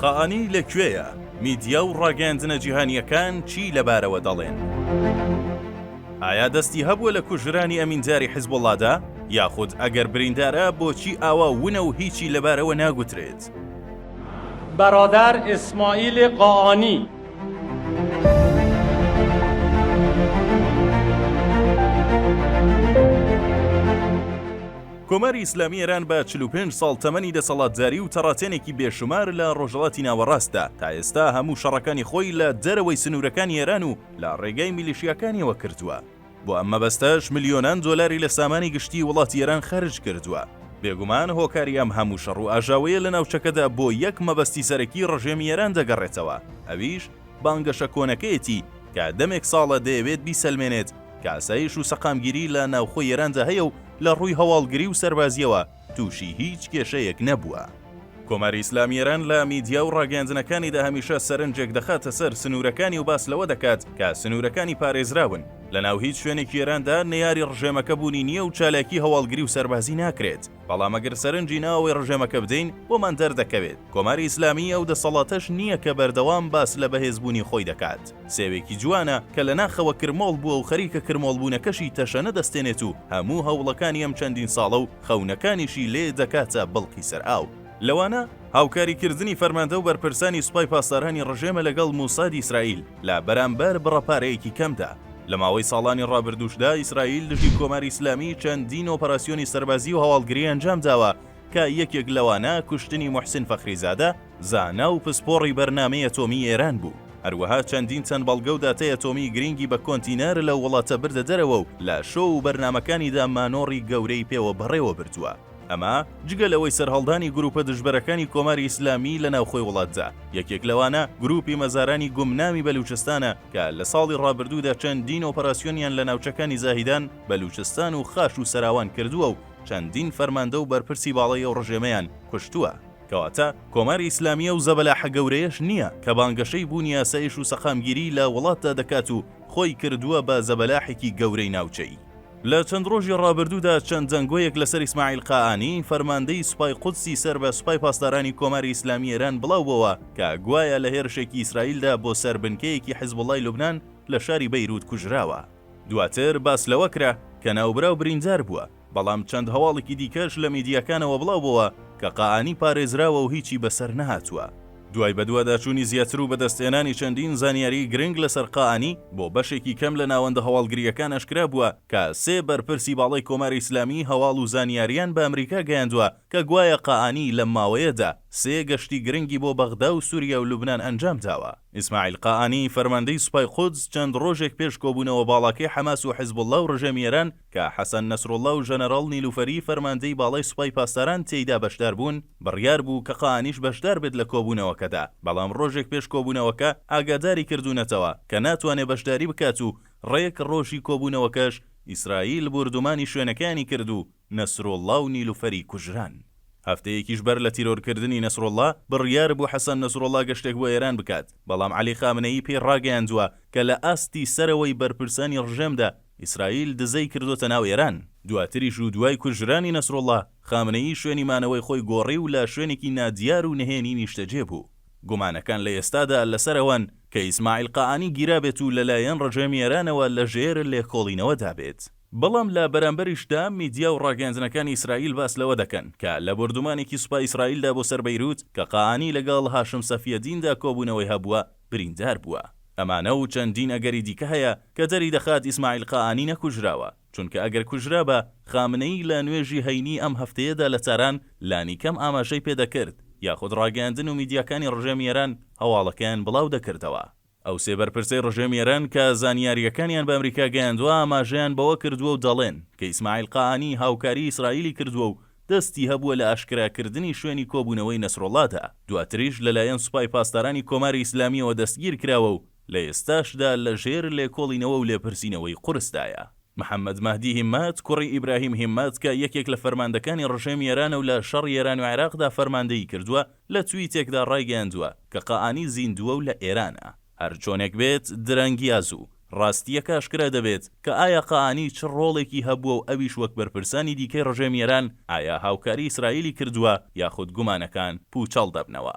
قائانی لە کوێیە؟ میدیا و ڕاگەیاندنە جیهانییەکان چی لەبارەوە دەڵێن؟ ئایا دەستی هەبووە لە کوژرانی ئەمینداری حزبوڵڵادا؟ یاخود ئەگەر بریندارە بۆچی ئاوا ونە و هیچی لەبارەوە ناگوترێت؟ برادەر ئیسماعیل قائانی. کۆماری ئیسلامی ئێران بە چل و پێنج ساڵ تەمەنی دەسەڵاتداری و تەڕاتێنێکی بێ شومار لە ڕۆژهەڵاتی ناوەڕاستدا، تا ئێستا هەموو شەڕەکانی خۆی لە دەرەوەی سنوورەکانی ئێران و لە ڕێگای میلیشیاکانیەوە کردووە. بۆ ئەم مەبەستەش ملیۆنان دۆلاری لە سامانی گشتیی وڵاتی ئێران خەرج کردووە. بێگومان هۆکاری ئەم هەموو شەڕ و ئاژاوەیە لە ناوچەکەدا بۆ یەک مەبەستی سەرەکیی ڕژێمی ئێران دەگەڕێتەوە، ئەویش بانگەشە کۆنەکەیەتی کە دەمێک ساڵە دەیەوێت بیسەلمێنێت، کە ئاسایش و سەقامگیری لە ناوخۆی ئێراندا هەیە و لە ڕووی هەواڵگری و سەربازییەوە تووشی هیچ کێشەیەک نەبووە. کۆماری ئیسلامی ئێران لە میدیا و ڕاگەیاندنەکانیدا هەمیشە سەرنجێک دەخاتە سەر سنوورەکانی و باس لەوە دەکات کە سنوورەکانی پارێزراون، لەناو هیچ شوێنێکی ئێراندا نەیاری ڕژێمەکە بوونی نییە و چالاکی هەواڵگری و سەربازی ناکرێت. بەڵام ئەگەر سەرنجی ناوەوەی ڕژێمەکە بدەین، بۆمان دەردەکەوێت، کۆماری ئیسلامیی ئەو دەسەڵاتەش نییە کە بەردەوام باس لە بەهێزبوونی خۆی دەکات، سێوێکی جوانە کە لە ناخەوە کرمۆڵ بووە و خەریکە کرمۆڵبوونەکەشی تەشەنە دەستێنێت و هەموو هەوڵەکانی ئەم چەندین ساڵە و خەونەکانیشی لێ دەکاتە بڵقی سەر ئاو. لەوانە هاوکاریکردنی فەرماندە و بەرپرسانی سوپای پاسدارانی ڕژێمە لەگەڵ موسادی ئیسرائیل لە بەرامبەر بڕە پارەیەکی کەمدا، لە ماوەی ساڵانی ڕابردووشدا ئیسرائیل دژی کۆماری ئیسلامی چەندین ئۆپەراسیۆنی سەربازی و هەواڵگری ئەنجامداوە کە یەکێک لەوانە کوشتنی موحسین فەخریزادە، زانا و پسپۆڕی بەرنامەی ئەتۆمی ئێران بوو، هەروەها چەندین تەن بەڵگە و داتای ئەتۆمی گرینگی بە کۆنتینەر لەو وڵاتە بردە دەرەوە و لە شۆ و بەرنامەکانیدا مانۆڕی گەورەی پێوە بەڕێوەبردووە. ئەمە جگە لەوەی سەرهەڵدانی گروپە دژبەرەکانی کۆماری ئیسلامی لە ناوخۆی وڵاتدا، یەکێک لەوانە گروپی مەزارانی گومناوی بەلوچستانە کە لە ساڵی ڕابردوودا چەندین ئۆپەراسیۆنیان لە ناوچەکانی زاهیدان، بەلوچستان و خاش و سەراوان کردووە و چەندین فەرماندە و بەرپرسی باڵای ئەو ڕژێمەیان کوشتووە. کەواتە کۆماری ئیسلامی ئەو زەبەلاحە گەورەیەش نییە کە بانگەشەی بوونی ئاسایش و سەقامگیری لە وڵاتدا دەکات و خۆی کردووە بە زەبەلاحێکی گەورەی ناوچەیی. لە چەند ڕۆژی ڕابردوودا چەند دەنگۆیەک لەسەر ئیسماعیل قائانی، فەرماندەی سوپای قودسی سەر بە سوپای پاسدارانی کۆماری ئیسلامی ئێران بڵاو بۆوە کە گوایە لە هێرشێکی ئیسرائیلدا بۆ سەر بنکەیەکی حیزبوڵڵای لوبنان لە شاری بەیرووت کوژراوە. دواتر باس لەوە کرا کە ناوبراو بریندار بووە، بەڵام چەند هەواڵیکی دیکەش لە میدیاکانەوە بڵاو بۆوە کە قائانی پارێزراوە و هیچی بەسەر نەهاتووە. دوای بەدواداچوونی زیاتر و بەدەستهێنانی چەندین زانیاریی گرنگ لەسەر قائانی، بۆ بەشێکی کەم لە ناوەندە هەواڵگرییەکان ئاشکرا بووە کە سێ بەرپرسی باڵای کۆماری ئیسلامی هەواڵ و زانیارییان بە ئەمریکا گەیاندووە کە گوایە قائانی لەم ماوەیەدا سێ گەشتی گرنگی بۆ بەغدا و سووریا و لوبنان ئەنجام داوە. ئیسماعیل قائانی، فەرماندەی سوپای قودس چەند ڕۆژێک پێش کۆبوونەوە باڵاکەی حەماس و حزبوڵڵا و ڕژێمی ئێران، کە حەسەن نەسروڵڵا و ژەنەراڵ نیلوفەری فەرماندەی باڵای سوپای پاسداران تێیدا بەشدار بوون، بڕیار بوو کە قائانیش بەشدار بێت لە کۆبوونەوەکەدا، بەڵام ڕۆژێک پێش کۆبوونەوەکە ئاگاداری کردوونەتەوە کە ناتوانێت بەشداری بکات و ڕێک ڕۆژی کۆبوونەوەکەش ئیسرائیل بوردومانی شوێنەکەیانی کرد و نەسروڵڵا و نیلوفەری کوژران. هەفتەیەکیش بەر لە تیرۆرکردنی نەسروڵڵا، بڕیار بوو حەسەن نەسروڵڵا گەشتێک بۆ ئێران بکات، بەڵام عەلی خامنەیی پێی ڕاگەیاندووە کە لە ئاستی سەرەوەی بەرپرسانی ڕژێمدا ئیسرائیل دزەی کردۆتە ناو ئێران. دواتریش و دوای کوژرانی نەسروڵڵا، خامنەیی شوێنی مانەوەی خۆی گۆڕی و لە شوێنێکی نادیار و نهێنی نیشتەجێ بوو. گومانەکان لە ئێستادا لەسەر ئەوەن کە ئیسماعیل قائانی گیرابێت و لەلایەن ڕژێمی ئێرانەوە لە ژێر لێکۆڵینەوەدا بێت. بەڵام لە بەرامبەریشدا میدیا و ڕاگەیاندنەکانی ئیسرائیل باس لەوە دەکەن کە لە بۆردومانێکی سوپای ئیسرائیلدا بۆ سەر بەیروت کە قائانی لەگەڵ هاشم سەفیەدیندا کۆبوونەوەی هەبووە، بریندار بووە. ئەمانە و چەندین ئەگەری دیکە هەیە کە دەریدەخات ئیسماعیل قائانی نەکوژراوە، چونکە ئەگەر کوژرابا، خامنەیی لە نوێژی هەینیی ئەم هەفتەیەدا لە تاران لانیکەم ئاماژەی پێدەکرد، یاخود ڕاگەیاندن و میدیاکانی ڕژێمی ئێران هەواڵەکەیان بڵاودەکردەوە. ئەو سێ بەرپرسەی ڕژێمی ئێران کە زانیارییەکانیان بە ئەمریکا گەیاندووە ئاماژەیان بەوە کردووە و دەڵێن کە ئیسماعیل قائانی هاوکاریی ئیسرائیلی کردووە و دەستی هەبووە لە ئاشکراکردنی شوێنی کۆبوونەوەی نەسروڵڵادا، دواتریش لەلایەن سوپای پاسدارانی کۆماری ئیسلامییەوە دەستگیرکراوە و لە ئێستاشدا لەژێر لێکۆڵینەوە و لێپرسینەوەی قورسدایە. محەممەد مەهدی هیممەت، کوڕی ئیبراهیم هیممەت کە یەکێک لە فەرماندەکانی ڕژێمی ئێرانە و لە شەڕی ئێران و عێراقدا فەرماندەیی کردووە، لە تویتێکدا ڕایگەیاندووە کە قائانی زیندووە و لە ئێرانە. هەرچۆنێک بێت، درەنگ یا زوو، ڕاستییەکە ئاشکرا دەبێت کە ئایا قائانی چ ڕۆڵێکی هەبووە و ئەویش وەک بەرپرسانی دیکەی ڕژێمی ئێران ئایا هاوکاری ئیسرائیلی کردووە یاخود گومانەکان پووچەڵ دەبنەوە.